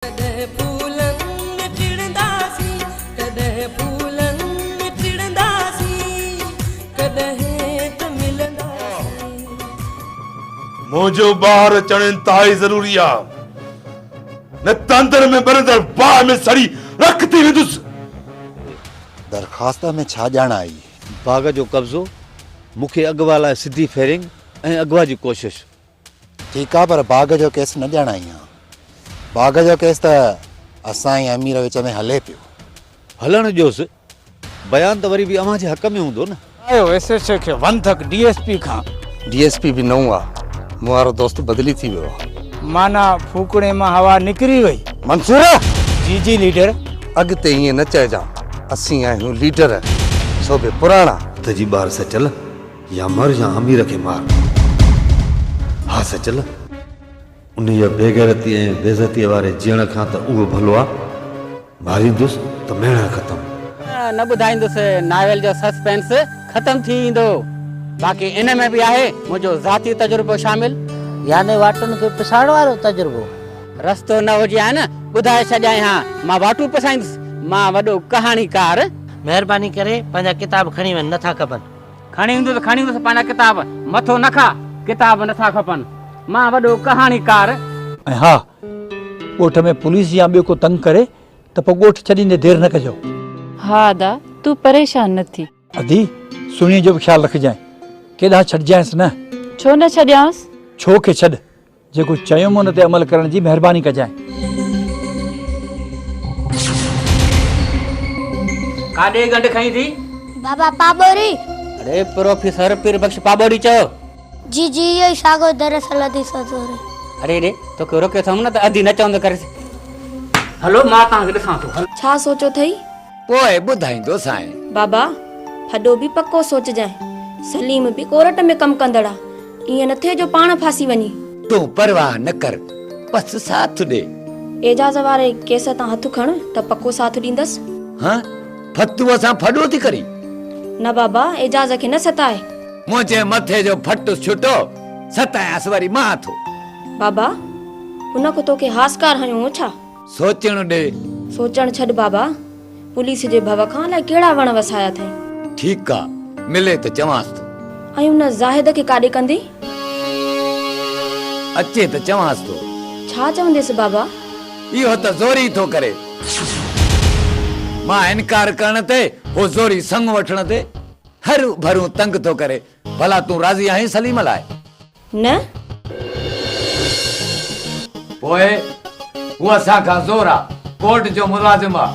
ڪڏهن ڦولن ۾ ٽڙنداسين ڪڏهن ڦولن ۾ ٽڙنداسين ڪڏهن ته ملنداسين. منهنجو ٻار اچڻ انتهائي ضروري آ نه ته اندر ۾ ٻرندڙ باهه ۾ سڙي رک ٿي ويندس. درخواست ۾ ڇا ڄاڻ آئي؟ باغ جو قبضو، مون کي اغوا لاء سڌي فيرنگ ۽ اغوا جي ڪوشش. ٺيڪ آ پر باغ جو ڪيس نه ڄاڻائين ها. باغ جو ڪيس ته اسان ۽ امير وچ ۾ هلي پيو. هلڻ ڏيوس. بيان ته وري به اوهان جي حق ۾ هوندو نه. آيو ايس ايڇ او کي وندڪ ڊي ايس پي کان. ڊي ايس پي به نئون آ. مون وارو دوست بدلي ٿي ويو آ. معنيٰ ڦوڪڻي مان هوا نڪري وئي. منصور! جي جي ليڊر. اڳتي ائين نه چئجان. اسين آهيون ليڊر. سو به پراڻا. هٿ جي ٻار سچل. يا مر يا امير کي مار. ها سچل، انهيء بيغيرتيء ۽ بيعزتيء واري جيئڻ کان ته اهو ڀلو آ، ماريندس ته ميڻن ختم. نه ٻڌائيندس ناول جو سسپينس ختم ٿي ويندو. باقي ان ۾ به آهي منهنجو ذاتي تجربو شامل. يعني واٽن کي پسائڻ وارو تجربو. رستو نه هجي ها نه ٻڌائي ڇڏيائين ها، مان واٽون پسائيندس، مان وڏو ڪهاڻيڪار. مهرباني ڪري پنهنجا ڪتاب کڻي وڃ، نه ٿا کپن. کڻي ايندو ته کڻي ايندس پنهنجا ڪتاب مٿو نه کا. ڪتاب نٿا کپن مان وڏو ڪهاڻيڪار. ۽ ها! ڳوٺ ۾ پوليس يا ٻيو ڪو تنگ ڪري ته پوء ڳوٺ ڇڏيندي دير نه ڪجو. ها ادا، تون پريشان نه ٿي. ادي، سهڻيء جو به خيال رکجانء. ڪيڏانهن ڇڏجانئس نه؟ ڇو نه ڇڏيانس؟ ڇو کي ڇڏ، جيڪو چيم ان تي عمل ڪرڻ جي مهرباني ڪجانء. ڪاڏي گنڊ کئين ٿي؟ بابا پاٻوري. اڙي پروفيسر پير بخش پاٻوري چئو. جي جي اهو ئي ساڳيو دراصل ادي سوزوري. اڙي اڙي توکي روڪيو اٿم نه ته ادي نه چوندو ڪريس. هلو مان توهان کي ڏسان ٿو. ڇا سوچيو اٿئي؟ پوء ٻڌائيندو سانء. بابا ڦڏو به پڪو سوچجانء. سليم به ڪورٽ ۾ ڪم ڪندڙ آ. ائين نه ٿئي جو پاڻ ڦاسي وڃي. تون پرواهه نه ڪر بس ساٿ ڏي. اعجاز واري ڪيس تان هٿ کڻ ته پڪو ساٿ ڏيندس. ها ڦتوء سان ڦڏو ٿي ڪرين. نه بابا اعجاز کي نه ستاء. منهنجي مٿي جو ڦٽ ڇٽو ستايانس وري مان ٿو. بابا هن ڪو توکي هاسڪار هنيو هو ڇا؟ سوچڻ ڏي. سوچڻ ڇڏ بابا. پوليس جي ڀؤ کان الائي ڪهڙا وڻ وسايا اٿئي. ٺيڪ آ، ملي ته چوانس ٿو. ۽ ان زاهد کي ڪاڏي ڪندين؟ اچي ته چوانس ٿو. ڇا چونديس بابا؟ اهو ته زوري ٿو ڪري. مان انڪار ڪرڻ تي هو زوري سڱ وٺڻ تي هرون ڀرون تنگ ٿو ڪري. ڀلا تون راضي آهين سليم لاء؟ نه. پوء هو اسان کان زور آ ڪورٽ جو ملازم آ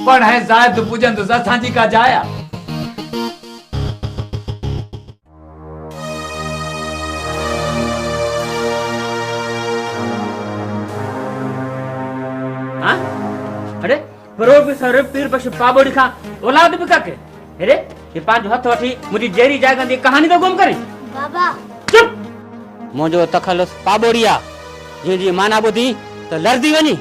پڙ هين زائد پڄندس اسان جي ڪا جاء آ. ها اڙي. پروفيسر پير بخش پاٻوڙي کان اولاد به ڪاڪي هيري هي پنهنجو هٿ وٺي منهنجي جيري جائگان جي ڪهاڻي ٿو گم ڪرين بابا چپ منهنجو تخلص پاٻوڙي آ جنهن جي معنيٰ ٻڌي ته لرزي وڃي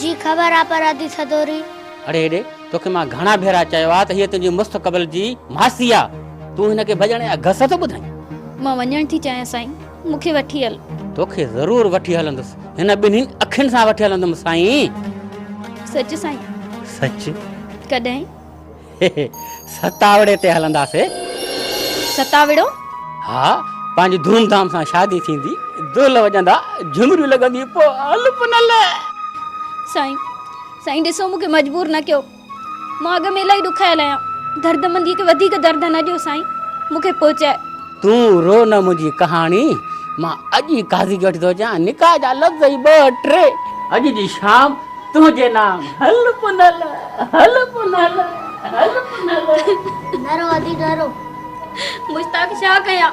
جي خبر آ پر ادي سدوري. اڙي هيڏي توکي مان گهڻا ڀيرا چيو آ ته هيء تنهنجي مستقبل جي ماسي آ تون هن کي ڀڄڻ جا گس ٿو ٻڌائين. مان وڃڻ ٿي چاهيان سائين. مون کي وٺي هل. توکي ضرور وٺي هلندس. هن ٻنهين اکين سان وٺي هلندم سائين. سچ سائين. سچ. ڪڏهن. ستاوڙي تي هلنداسي. ستاوڙو؟ ها پنهنجي ڌوم ڌام سان شادي ٿيندي دول وڄندا جهمريون لڳنديون پوء هل پنل. سائين سائين ڏسو مون کي مجبور نه ڪيو. مان اڳ ۾ الاهي ڏکايل آهيان. دردمنديء کي وڌيڪ درد نه ڏيو سائين، مون کي پهچاء. تون رو نه منهنجي ڪهاڻي، مان اڄ ئي قاضي کي وٺي ٿو اچان، نڪاح جا لفظ ئي ٻه ٽي، اڄ جي شام تنهنجي نام. هل پنهل، هل پنهل، هل پنهل. نه رو ادي نه رو. مشتاق ڇا ڪيان؟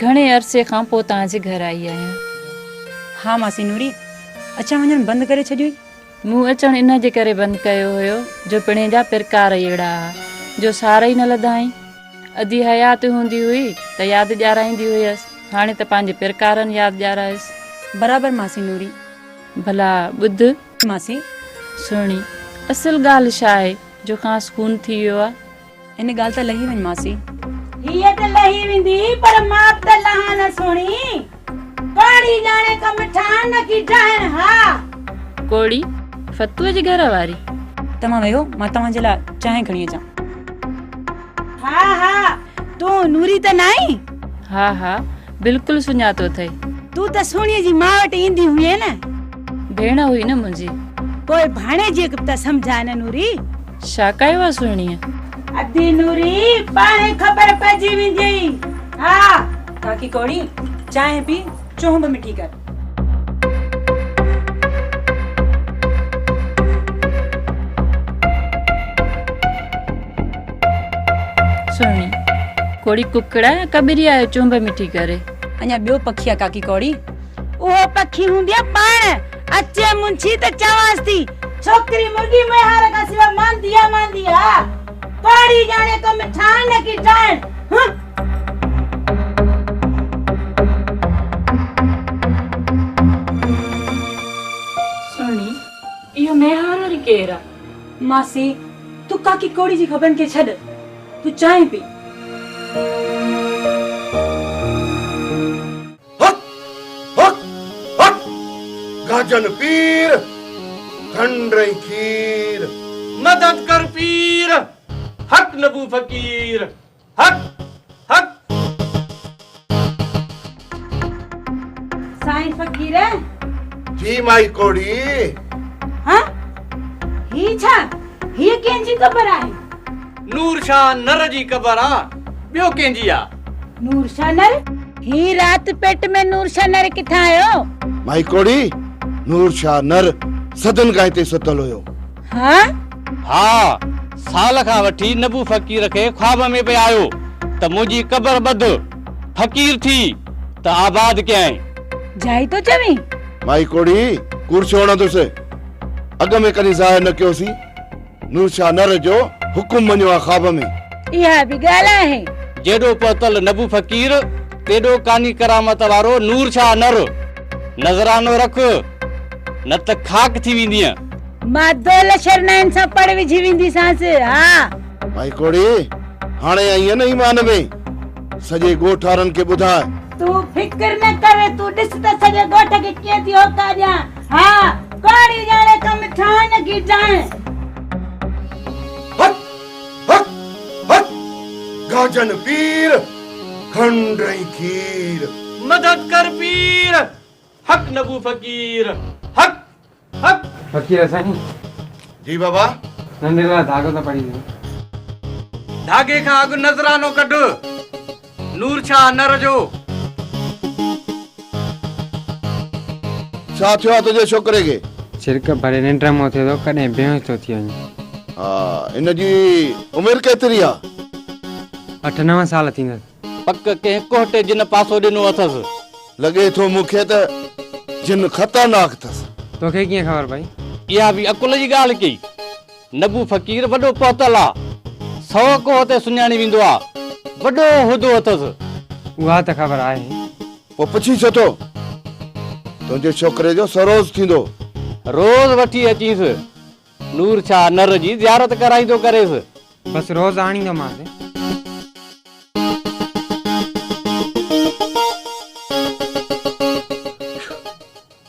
گهڻي عرصي کان پوء توهان جي گهر آئي آهيان. ها ماسي نوري، اچڻ وڃڻ بند ڪري ڇڏيوئي؟ مون اچڻ ان جي ڪري بند ڪيو هيو جو پڻهين جا پرڪار ئي اهڙا ها جو سار ئي نه لڌائين. ادي حيات هوندي هئي ته ياد ڏيارائيندي هيس، هاڻي ته پنهنجي پرڪارن ياد ڏيارائيس. برابر ماسي نوري. ڀلا ٻڌ. ماسي. سهڻي، اصل ڳالهه ڇا آهي جو خاص خون ٿي ويو آهي؟ ان ڳالهه تان لهي وڃ ماسي. هيء ته لهي ويندي پر ماپ ته لهان نه سهڻي. ڪاڙهي ڄاڻي ڪا مٺان نه ڪي ڊاهڻ ها. ڪوڙي، فتوء جي گهر واري. توهان ويهو، مان توهان جي لاء چانهه کڻي اچان. ها ها، تون نوري ته ناهين؟ ها ها، بلڪل سڃاتو اٿئي. تون ته سهڻيء جي ماء وٽ ايندي هئين نه؟ ڀيڻ هئي نه منهنجي. پوء ڀاڻيجيء کي به ته سمجهاء نه نوري. شا ڪايو آ سهڻيء؟ ادي نوري، پاڻ ئي خبر پئجي وينديئي. ها. ڪاڪي ڪوڙي، چانهه پي، چونهه به مٺي ڪر. سهڻي، ڪوڙي ڪڪڙ آ يا ڪٻري آ جو چونهه به مٺي ڪري. اڃا ٻيو پکي آ ڪاڪي ڪوڙي. اهو پکي هونديئي پاڻ. اچي منشي ته چوانس ٿي. ڇوڪري مرغي ميهار کان سواء ماندي آ ماندي آ. پاڙي ڄاڻي ڪم ٺاهڻ نه ڪي ٽاهڻ. هه. سهڻي، اهو ميهار وري ڪير آ؟ ماسي، تون ڪاڪي ڪوڙي جي خبرن کي ڇڏ. تون چانهه پي. هڪ هڪ هڪ گهجن پير کنڊ ۽ کير. مدد ڪر پير هڪ نبو فقير هڪ هڪ. سائين فقير. جي مائي ڪوڙي. ها هي ڇا هيء ڪنهن جي قبر آهي. نور شاهه نر جي قبر آ ٻيو ڪنهن جي آ. نور شانر، هي رات پيٽ ۾ نور شانر ڪٿان آيو؟ مائي ڪوڙي، نور شانر صدين کان هتي ستل هيو. ها؟ ها، سال کان وٺي نبو فقير کي خواب ۾ پئي آيو ته منهنجي قبر ٻڌ، فقير ٿي ته آباد ڪيائين. جائي ٿو چوين؟ مائي ڪوڙي، ڪوڙ ڇو هڻندس؟ اڳ ۾ ڪڏهن ظاهر نه ڪيوسين. نور شاهه نر جو حڪم مڃيو آ خواب ۾. اها به ڳالهه آهي. جيڏو پهتل نبو فقير تيڏو ڪاني ڪرامت وارو نور شاهه نر. نذرانو رک نه ته خاڪ ٿي ويندينء. مان دول شرنائن سان پڙ وجهي وينديسانس ها. ڀائي ڪوڙي هاڻي آئين نه ايمان ۾. سڄي ڳوٺ وارن کي ٻڌاء. تون فڪر نه ڪر تون ڏس ته سڄي ڳوٺ کي ڪيئن ٿي هوڪا ڏيان. ها ڪاڙي ڄاڻي ڪم ٿان ڪي ٽائين. هت هت هت گاجن پير کنڊ ۽ کير. مدد ڪر پير حق نبو فقير حق حق. فقير سائين. جي بابا. ننڍي لاء ڌاڳو ته پڙي ڏيو. ڌاڳي کان اڳ نذرانو ڪڍ. نور ڇا نر جو. ڇا ٿيو آ تنهنجي ڇوڪري کي. ڇرڪ ڀري ننڊ مون اٿيو ٿو ڪڏهن بيهوش ٿو ٿي وڃي. ها هن جي عمر ڪيتري آ. اٺ نو سال ٿيندس. پڪ ڪنهن ڪهٽي جن پاسو ڏنو اٿس. لڳي ٿو مون کي ته جن خطرناڪ ٿس. توکي ڪيئن خبر پئي. اها به عقل جي ڳالهه ڪئي. نبو فقير وڏو پهتل آ. سؤ ڪوهه تي سڃاڻي ويندو آ. وڏو عهدو اٿس. اها ته خبر آهي. پوء پڇي ڇو ٿو؟ تنهنجي ڇوڪري جو سروز ٿيندو. روز وٺي اچينس. نور ڇا نر جي زيارت ڪرائيندو ڪريس. بس روز آڻيندومانس.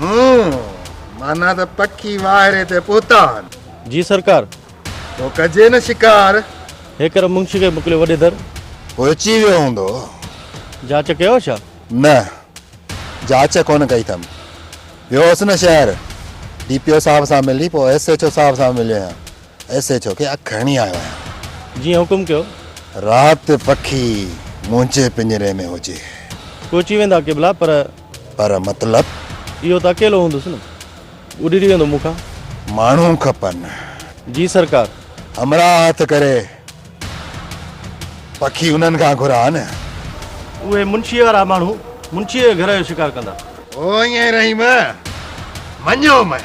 هون، معنيٰ ته پکي واهري تي پهتا هن. جي سرڪار! تو ڪجي نه شڪار. هيڪر منشي کي موڪليو وڏي در. هو اچي ويو هوندو. جاچ ڪيو ڇا؟ نه، جاچ ڪونه ڪئي اٿم. ويو هوس نه شهر، ڊي پي او صاحب سان ملي پوء ايس ايڇ او صاحب سان مليو آهيان. ايس ايڇ او کي اک هڻي آيو آهيان. جيئن حڪم ڪيو. رات پکي منهنجي پڃري ۾ هجي. پهچي ويندا قبلا پر. پر مطلب؟ اهو ته اڪيلو هوندس نه. اڏري ويندو مون کان. ماڻهو کپن. جي سرڪار. همراهه هٿ ڪري پکي انهن کان گهرا نه. اهي منشيء وارا ماڻهو منشيء جي گهر جو شڪار ڪندا. او ائين رحيم! مڃيو مئي.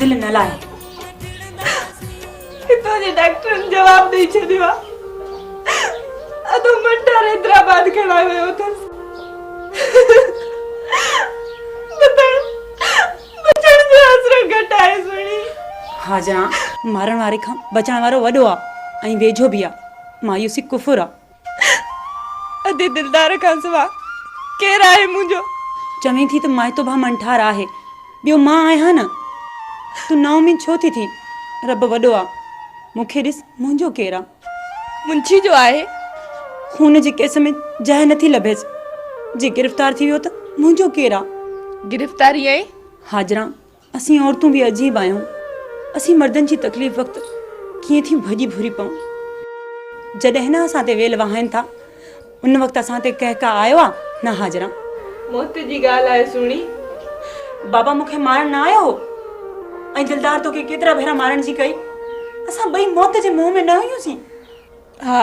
دل نه لاهي. هتان جي ڊاڪٽرن جواب ڏئي ڇڏيو آ. اڌو منٽار حيدرآباد کڻائي ويو اٿس. بتڻ بچڻ جو آسرو گهٽ آهي سهڻي. ها جان، مارڻ واري کان بچڻ وارو وڏو آ ۽ ويجهو به آ. مايوسي ڪفر آ. ادي دلدار کان سوا ڪير آهي منهنجو. چوين ٿي ته مائتو ڀاء منٺار آهي ٻيو مان آهيان نه. تون نااميد ڇو ٿي ٿين رب وڏو آ. مون کي ڏس منهنجو ڪير آ. منشي جو آهي. خون جي ڪيس ۾ جاء نٿي لڀيس. جي گرفتار ٿي ويو ته منهنجو ڪير آ. گرفتاري ۽. حاجران اسين عورتون به عجيب آهيون، اسين مردن جي تڪليف وقت ڪيئن ٿي ڀڄي ڀوري پئون. جڏهن نه اسان تي ويل وهائين ٿا، ان وقت اسان تي ڪهه ڪا آيو آ؟ نه حاجران! موت جي ڳالهه آهي سهڻي. بابا مون کي مارڻ نه آيو هو ۽ دلدار توکي ڪيترا ڀيرا مارڻ جي ڪئي. اسان ٻئي موت جي منهن ۾ نه هيون سين. ها،